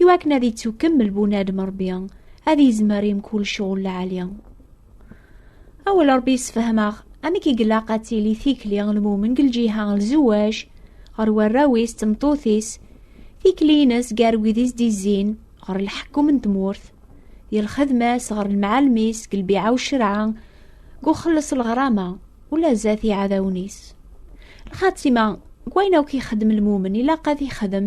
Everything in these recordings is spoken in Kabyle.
i wakken ad yettukemmel bunadem rebbi ad yezmer i mkul cɣul lɛali awal rebbi yessefhem-aɣ amek i ilaq ad tili tikli n lmumen deg lǧiha n lzewaj ɣer warraw-is d tmeṭṭut-is tikli-ines gar wid i s-d-izzin ɣer lḥekkum n tmurt di lxedma-s ɣer lemɛalem-is deg lbiɛa u ccerɛa deg uxelleṣ lɣrama ula zdat iɛdawen-is lxatima deg wayen akk ixeddem lmumen ilaq ad ixdem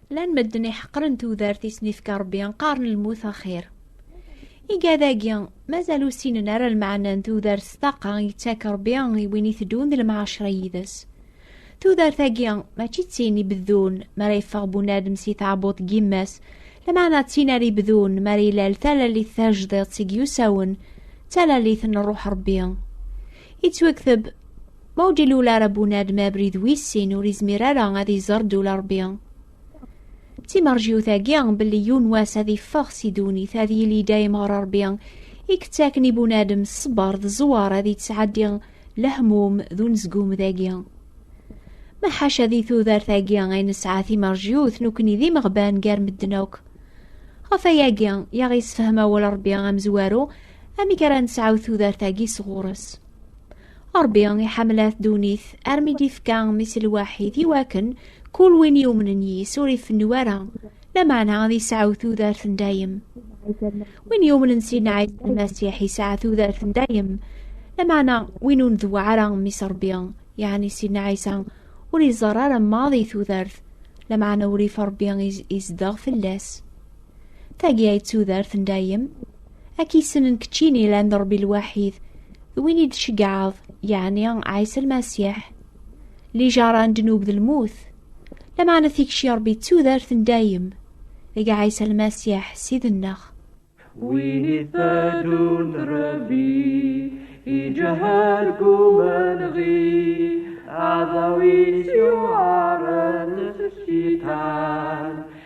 Llan medden iḥeqren tudert i sen-ifka Rebbi, qqaren lmut axir. Igad-agi, mazal ur ssinen ara lmeɛna n tudert s taqa yettak Rebbi i win iteddun d lemɛacra yid-s. Tudert-agi, mačči d tin ibeddun mi ara yeffeɣ bunadem si tɛebbuḍt n yemma-s, lameɛna d tin ara ibedun mi ara ilal talalit tajdiṭ i yusawen, d talalit n Ṛṛuḥ Ṛebbi. Ittwekteb Ma ur d-ilul ara bunadem abrid wis sin ur izmir ara ad iẓer ddula Rebbi. D timerjiwt-agi belli yiwen wass ad iffeɣ si ddunit ad yili dayem ɣer Rebbi i yettaken i bunadem ṣṣber d ẓẓwar ad yettɛeddi lehmum d unezgum dagi. Ma ḥaca di tudert-agi ay nesɛa timerjiwt nekkni d imeɣban gar medden akk. Ɣef ayagi i aɣ-yessefhem awal Rebbi amezwaru amek ara nesɛu tudert-agi sɣur-s. Ṛebbi iḥemmel-at ddunit armi d-ifka mmi-s lwaḥid i wakken kul win yumnen yis ur ifennu ara, lameɛna ad yesɛu tudert n dayem. Win yumnen Sidna Ɛisa Lmasiḥ yesɛa tudert n dayem, lameɛna win ur ndew ara mmi-s Ṛebbi, yeɛni Sidna Ɛisa, ur iẓerr ara maḍi tudert, lameɛna urrif Ṛebbi izdeɣ fell-as. Tagi ay d tudert n dayem, Ad k-yessnen keččini ilan d Ṛebbi lwaḥid, d win i d-tceggɛeḍ, yeɛni Ɛisa Lmasiḥ. Lijaṛa n ddnub d lmut, lameɛna tikci n Ṛebbi d tudert n dayem, deg Ɛisa Lmasiḥ, Ssid-nneɣ. Win i tadunt Ṛebbi iǧǧa argumen ɣi, aɛdaw-is yuɛren s cciṭan.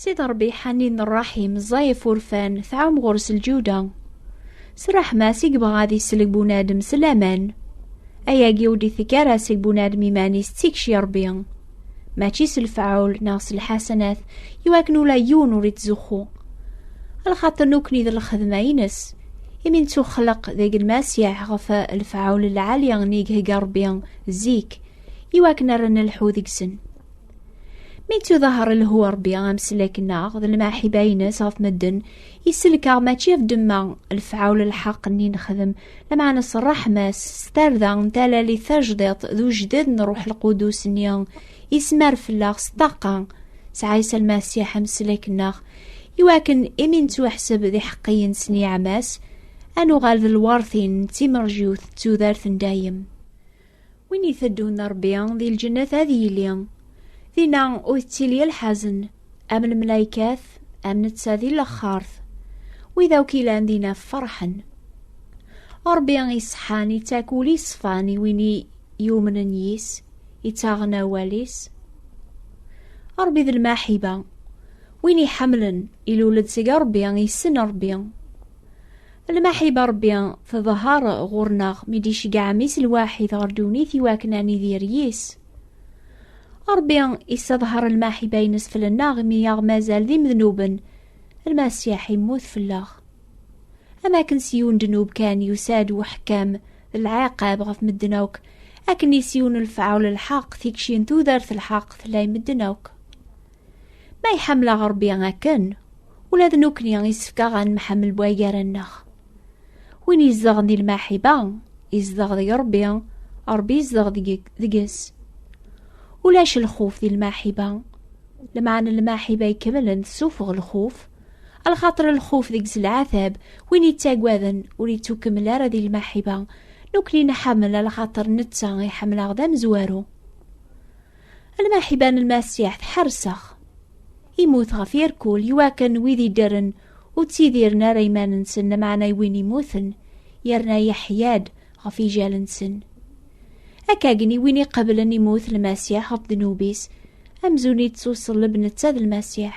Sid Ṛebbi ḥanin ṛṛaḥim, ẓẓay ɣef urfan, tɛum ɣur-s lǧuda. S ṛṛeḥma-s i yebɣa ad isellek bunadem s laman. Ayagi ur d-itekk ara seg bunadem iman-is d tikci i Ṛebbi. Mačči s lefɛul neɣ s lḥasanat, i wakken ula yiwen ur ittzuxxu. Lxaṭer nukni d lxedma-ines, imi nettuxleq deg Lmasiḥ ɣef lefɛul lɛali i ig-hegga Ṛebbi zik, i wakken ara nelḥu deg-sen. Mi ttuḍaher lhu Rebbi amslek-nneɣ d lemɛiḥiba-ines ɣef medden, isellek-aɣ mačči ɣef ddemma, lefɛul lḥeqq-nni nexdem, lameɛna s ṛṛeḥma-s, s tarda n talalit tajdiṭ d ujded n Ṛṛuḥ Lqudus-nni, ismar fell-aɣ s ṭṭaqa s Ɛisa Lmasiḥ amslek-nneɣ, iwakken imi nettwaḥseb d iḥeqqiyen s nniɛam-as, ad nuɣal d lweṛtin d timerjwt d tudert n dayem. Win iteddun Rebbi di lǧennet ad yili. Dinna ur tettili lḥazen, am lmelaykat, am netta di lexxart. Wid akk ilan dinna ferḥen. Rebbi iseḥḥan ittak ul iṣfan i win yumnen yis, ittaɣen awal-is. Rebbi d lmaḥiba. Win iḥemmlen ilul-d seg Rebbi, yessen Rebbi. Lmaḥiba Ṛebbi tḍeher ɣur-neɣ mi d-iceggeɛ Mmi-s lwaḥid ɣer ddunit i wakken ad nidir yis. Ṛebbi isseḍher lmaḥiba-ines fell-nneɣ imi aɣ-mazal d imednuben, Lmasiḥ immut fell-aɣ. Am akken s yiwen ddnub kan yusa-d uḥekkam d lɛiqab ɣef medden akk, akken i s yiwen lefɛul lḥeqq tikci n tudert lḥeqq tella i medden akk. Ma iḥemmel-aɣ Ṛebbi akken, ula d nekkni yessefk aɣ ad nemḥemmel bu agar-nneɣ. Win izedɣen di lmaḥiba, izedɣ deg Ṛebbi, Ṛebbi izedɣ deg-s. Ulac lxuf di lmaḥiba. Lmeɛna n lmaḥiba ikemlen tessuffeɣ lxuf, lxaṭer lxuf deg-s lɛatab, win ittaggaden ur ittukemmel ara di lmaḥiba. Nekkni nḥemmel lxaṭer netta iḥemmel-aɣ d amezwaru. Alma ḥiban lmasiḥ tḥersex. Imut ɣef yerkul iwakken wid iddren ur ttidiren ara iman-nsen lameɛna i win imuten yerna yeḥya-d ɣef ijal-nsen. Akkagni win iqeblen imut lmasiḥ ɣef ddnub-is amzun ittuṣelleb netta d lmasiḥ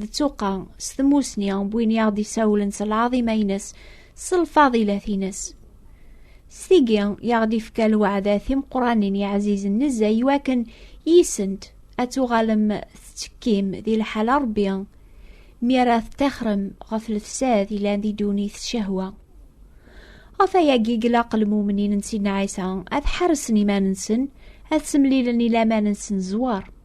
d tuqqa s tmusni n win i aɣ-d-isawlen s lɛaḍima-ines s lfaḍilat-ines s tigi i aɣ-d-ifka lweɛda timeqranin yeɛzizen nezzay iwakken yisent ad tuɣalem tettekkim di lḥal Rebbi mi ara teṭṭixrem ɣef lefsad yellan di ddunit s cehwa ɣef ayagi i ilaq lmumnin n Sidna Ɛisa ad ḥarsen iman-nsen ad semlilen i laman-nsen zzwar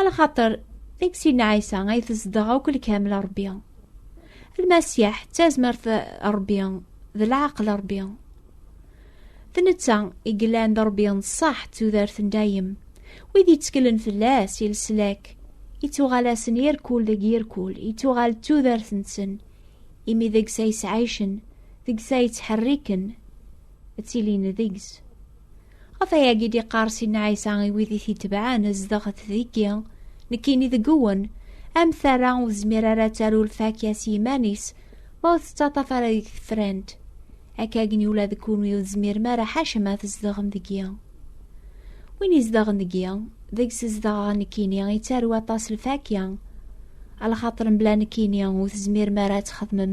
Alxaṭer, deg sin Ɛisa ay tezdeɣ akk lkamel Ṛebbi. Lmasiḥ d tazmert Ṛebbi, d leɛqel Ṛebbi. D netta i yellan d Ṛebbi n ṣṣeḥ d tudert n dayem. Wid yetteklen fell-as i leslak, ittuɣal-asen irkul deg yirkul, ittuɣal d tudert-nsen, imi deg-s ay sɛicen, deg-s ay ttḥerriken, ttilin deg-s. Ɣef ayagi d-iqqar Sidna Ɛisa i wid i t-itebɛen zdeɣet deg-i, nekkini deg-wen, am tara ur tezmir ara ad taru lfakya s yiman-is, ma ur tettaṭaf ara deg tefrant. Akkagni ula d kunwi ur tezmirem ara ḥaca ma tzedɣem deg-i. Win izedɣen deg-i, deg-s zedɣeɣ nekkini, ittaru aṭas lfakya. Alxaṭer mebla nekkini ur tezmirem ara ad txedmem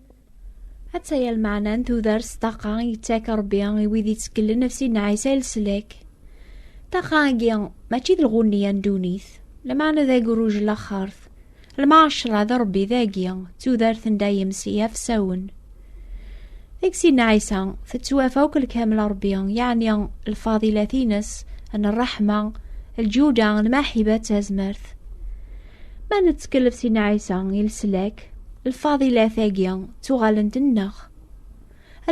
Ad taya lmeɛna n tudar s ṭaqa i yettak Rebbi i wid itteklen af Sidna Ɛisa i leslak. Ṭaqa-agi mačči d lɣunni-a n ddunit, lmeɛna d agruj n laxert. Lmeɛcra d Rebbi dagi, d tudart n dayem s yiɛfsawen. Deg Sidna Ɛisa, tettwaf akk lkamel n Rebbi, yeɛni lfadilat-ines n ṛṛeḥma, lǧuda, lmaḥiba d tazmert. Ma nettkellef si Nɛisa i leslak, lfadilat-agi ttuɣalent-nneɣ.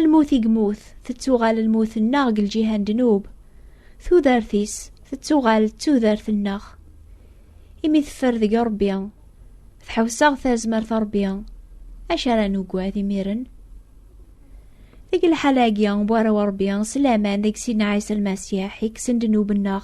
Lmut i yemmut, tettuɣal lmut-nneɣ deg lǧiha n ddnub. Tudert-is, tettuɣal d tudert-nneɣ. Imi teffer deg Ṛebbi, tḥewseɣ tazmert Ṛebbi, acu ara nugad imiren? Deg lḥal-agi, bu ara Ṛebbi, s laman deg Sidna Ɛisa Lmasiḥ, yekksen ddnub-nneɣ,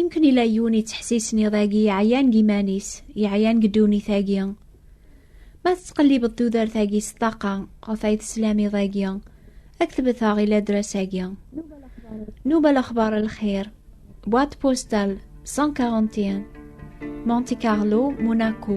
Imken ila yiwen yettḥessisen iḍ-agi yeɛyan deg iman-is, yeɛyan deg ddunit-agi. Ma tettqellibeḍ tudert-agi s ṭṭaqa ɣef ay teslam iḍ-agi, ad k-tbeteɣ i ladras-agi. Nuba lexbar lxir, boîte postale 141, Monte Carlo, Monaco.